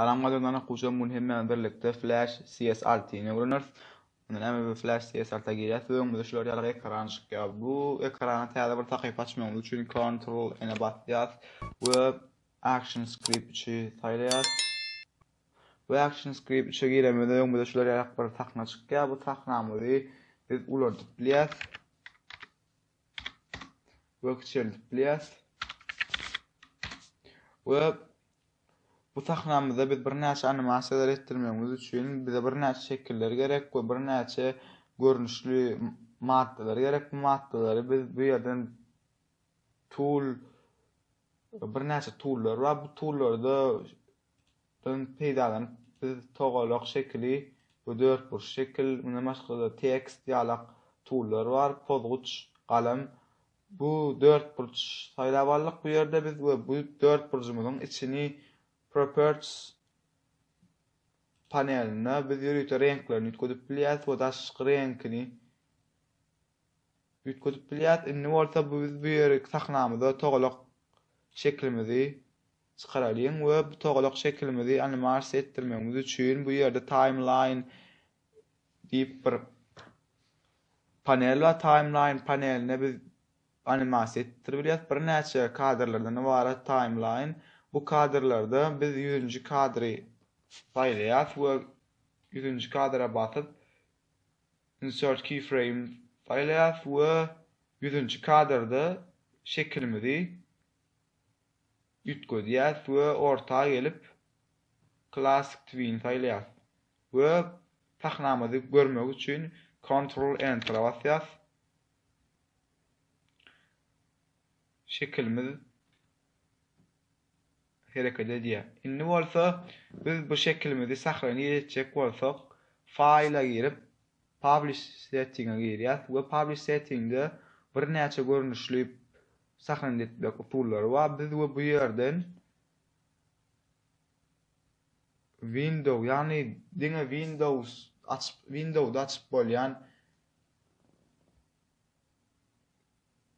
Salam gadyrylan okuwçym bu gün hem bilen birlikde Flash CS Alty ne öwreneris. Onda näme bu Flash CS Alty girýäs we öňümizde şular ýaly ekran çykýar. Bu ekrana täze bir sahypa açmagymyz üçin Ctrl N basýas we Action Script 3-i saýlaýas. We Action Script 3-e giremizde öňümizde şular ýaly bir sahna çykýar. Bu sahnamyzy biz ulandyp bilýäs. we kiçeldip bilýäris. We bu sahnamyzda biz birnäçe animasiýalar etdirmegimiz üçin bize birnäçe şekiller gerek we birnäçe görnüşli maddalar gerek. Bu maddalary biz bu ýerden tool birnäçe toollar bar. Bu toollarda Şundan peýdalanyp, biz togalak şekili we dörtburç şekil, mundan başga-da tekst ýalak tullar bar, pozguç, galam. Bu dörtburç saýlap aldyk bu ýerde biz we bu dörtburjumyzyň içini Properties panelinde biz ýörite reňklerini üýtgedip bilýäris we daşky reňkini üýtgedip bilýäris. Indi bolsa biz bu ýeri sahnamyza togalak şeklimizi Çykaralyň we bu togalak şekilimizi animasiýa etdirmegimiz üçin bu ýerde Timeline diýip bir panel bar. Timeline panelinde biz animasiýa etdirip bilýäris. Birnäçe kadrlardan ybarat Timeline. Bu kadrlarda biz ýüzünji kadry saýlaýarys we ýüzünji kadra basyp Insert Keyframe saýlaýarys we ýüzünji kadrda şekilimizi Üýtgedýäs we orta gelip Classic Twin saýlaýas we pahnamyzy görmek üçin Ctrl Enter-a basýas. Şekilimiz hereket edýär. Indi bolsa biz bu şekilimizi sahraniz etjek bolsak, File-a girip, Publish Setting-e girýäs we Publish Setting-de birnäçe görnüşli sahnany etmek usullary bar. Biz we bu ýerden Window, ýagny diňe Windows açyp, Window-da açyp bolýan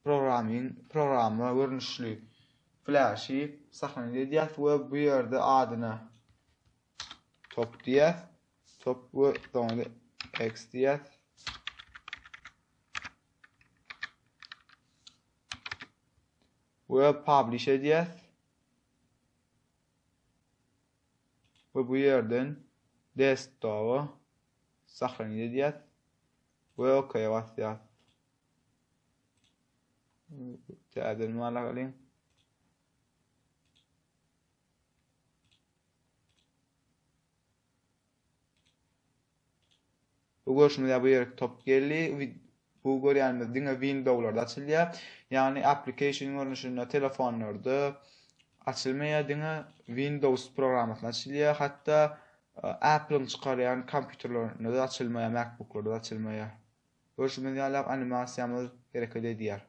Programming, programma görnüşli flaşy sahnat edýäs we bu ýerde adyna top diýýäs, top we soňra X diýýäs. we publish edýäs. We bu ýerden desktopa saklanyp edýäs we OK basýas. Täzeden wala galyň. Bu görüşmede bu ýerki top geldi. Bu görýänimiz diňe Windowslarda açylýar. Ýagny application görnüşinde telefonlarda açylmaýar, diňe Windows programmasyna açylýar. Hatda e, Apple-iň çykarýan kompýuterlerinde de açylmaýar, MacBook-larda da açylmaýar. Görşümiz ýalak animasiýamyz hereket edýär.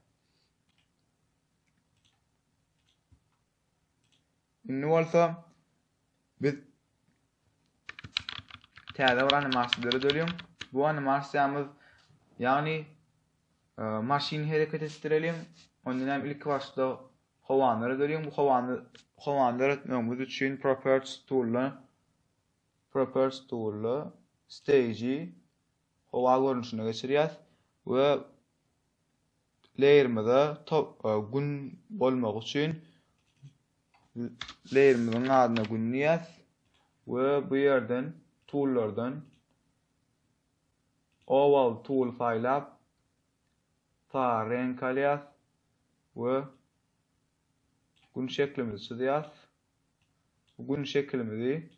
Indi bolsa biz täze bir animasiýa döredeliň. Bu animasiýamyz ýagny e, maşyn hereket etdireliň. Ondan hem ilki başda howany döredeliň. Bu howany howany döretmegimiz üçin properties tool properties tool stage howa görnüşinde geçirýäs we leýerimize Gün bolmagy üçin leýerimiziň adyna Gün diýýäs we bu ýerden Toollardan Oval tool saýlap sary reňk alýas we Gün şeklimizi çyzýas. Gün şekilimizi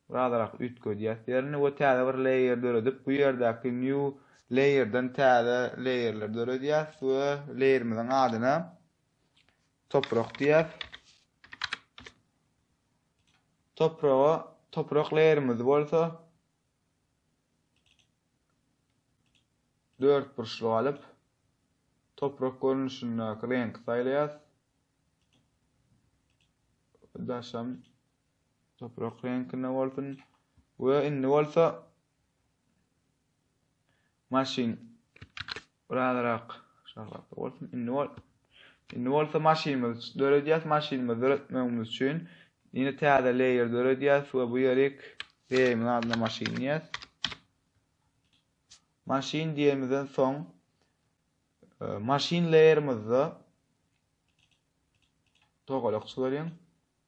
Birazarak üýtgedýäs ýerini we täze bir layer döredip bu ýerdäki new layerden täze layerleri döredýäs we layerimiziň adyna toprak diýýäs. Topraga toprak layerimiz bolsa dört burçluk alyp toprak görnüşindäki reňki saýlaýas. Daşam Toprak reňkinde bolsun. We indi bolsa maşyn birazrak şahlap bolsun. Indi bol. Indi bolsa maşynymyz döredýäs. Maşynymyzy döretmegimiz üçin ýene täze layer döredýäs we bu ýerik laýerimiň adyna maşyn diýýäs. Maşyn diýemizden soň e, maşyn laýerimizde togalak çyzaryň.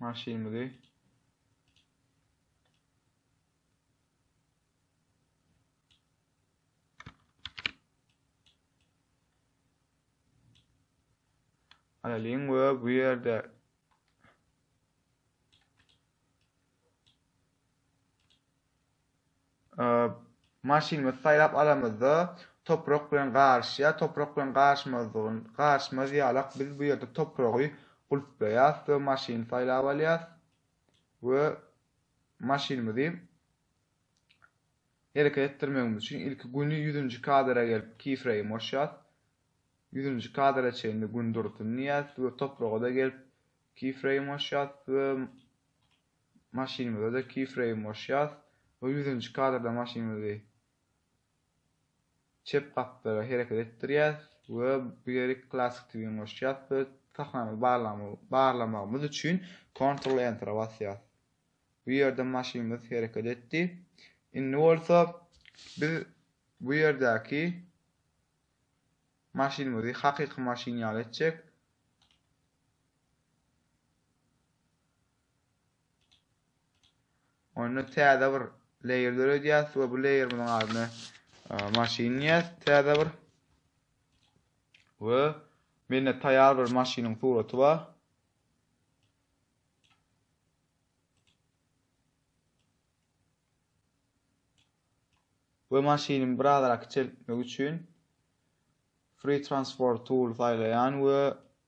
Maşynymyzy Alalyň we bu ýerde Maşynymyzy saýlap alamyzda, toprak bilen garyşýar. Toprak bilen garyşmazlygyny, garyşmaz ýalak biz bu ýerde topragy gulplaýas we maşyny saýlap alýas we maşynymyzy hereket etdirmegimiz üçin ilki güni 100-nji kadra gelip keyframe goşýas. 100-nji kadra çenli gün dursun diýýäs we topraga-da gelip keyframe goşýas we Maşynymyzada keyframe goşýas we ýüzünji kadrda maşynymyzy çep gapdala hereket etdirýäs we bu ýeri classic twin goşýas we sahnany barlamagymyz üçin ctrl enter-a basýas. Bu ýerde maşynymyz hereket etdi. Indi bolsa biz bu ýerdäki maşynymyzy hakyky maşyn ýaly etjek. Onda täze bir layer döredýäs we bu layerimiziň adyny e, maşyn diýýäs täze bir. We mende taýýar bir maşynyň suraty bar. we maşynymy birazrak kiçeltmek üçin Free Transform Tool saýlaýan we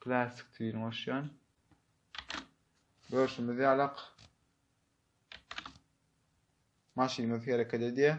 Klassik dilini goşýan. Görşümiz ýalak. Maşynymyz hereket edýär.